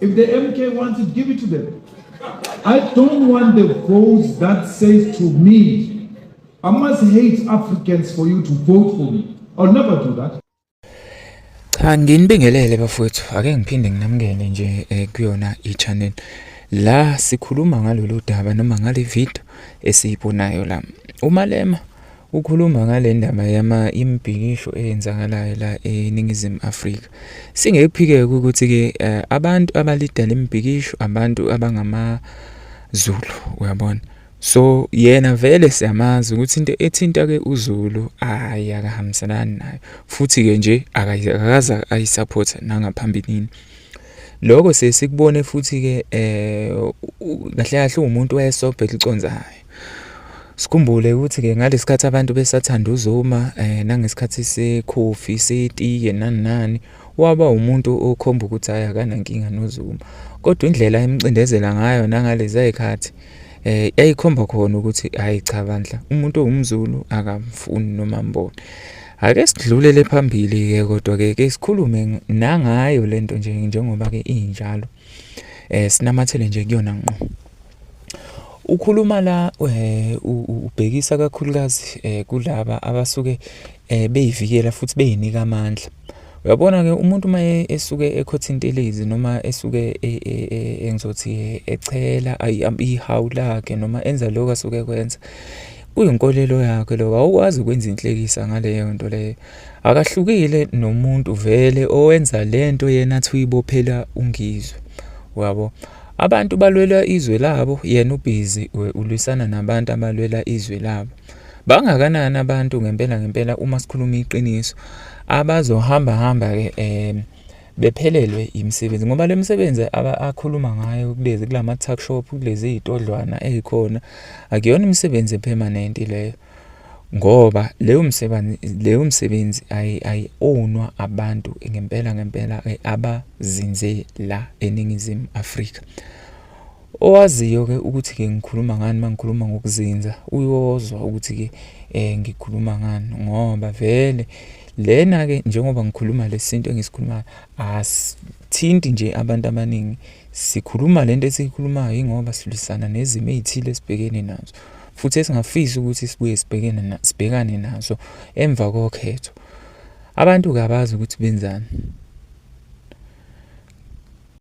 If the MK wants it, give it to them. I don't want the votes that says to me, I must hate Africans for you to vote for me. I'll never do that. Cha nginibingelele bafowethu ake ngiphinde nginamukele nje eh, kuyona i-channel la sikhuluma ngalolu daba noma ngale video esiyibonayo la umalema Ukhuluma ngale ndaba yama imibhikisho eyenzakalayo la eNingizimu Afrika. Singekuphike ukuthi-ke eh, abantu abalida le mibhikisho abantu abangamaZulu, uyabona. So yena vele siyamazi ukuthi into ethinta-ke uZulu hhayi akahambiselani nayo futhi-ke nje akakaze ayisaphothe nangaphambilini. Lokho siye sikubone futhi-ke um kahle kahle uwumuntu wayesobho eliconsayo. Sikhumbule ukuthi ke ngalesikhathi abantu besathanda uZuma eh nangesikhathi sekhofi setiye nani nani waba umuntu okhomba ukuthi hhayi akanankinga noZuma kodwa indlela emcindezela ngayo nangalezi ayikhathi eh yayikhomba khona ukuthi hayi cha bandla umuntu owumZulu akamfuni noma mbone ake sidlulele phambili ke kodwa ke ke sikhulume nangayo lento nje njengoba ke injalo eh sinamathele nje kuyona ngqo Ukhuluma la eh, ubhekisa kakhulukazi eh, kulaba abasuke eh, beyivikela futhi beyinika amandla. Uyabona-ke umuntu uma e, esuke ekhotha intelezi noma esuke e, e, engizothi echela ihawu lakhe noma enza lokho asuke ekwenza, kuyinkolelo yakhe lokho. Awukwazi ukwenza inhlekisa ngaleyo nto leyo. Akahlukile nomuntu vele owenza le nto yena athi uyibophela uNgizwe, uyabo? Abantu balwela izwe labo, yena ubhizi ulwisana nabantu abalwela izwe labo. Bangakanani abantu ngempela ngempela uma sikhuluma iqiniso abazohamba hamba ke eh bephelelwe imisebenzi ngoba le misebenzi akhuluma ngayo kulezi kulama tuck shop kulezi izitodlwana ezikhona akuyona imisebenzi epermanent leyo ngoba leyo msebenzi leyo msebenzi ayi-ownwa abantu ngempela ngempela eh, abazinze la eNingizimu Afrika. Owaziyo-ke ukuthi-ke ngikhuluma ngani uma ngikhuluma ngokuzinza uyozwa ukuthi-ke um ngikhuluma ngani ngoba vele lena-ke njengoba ngikhuluma lesintu engisikhulumayo asithinti nje abantu abaningi sikhuluma lento esiyikhulumayo ingoba silwisana nezimo ezithile esibhekene nazo futhi esingafisi ukuthi sibuye sibhekene sibhekane nazo emva kokhetho. Abantu kabazi ukuthi benzani.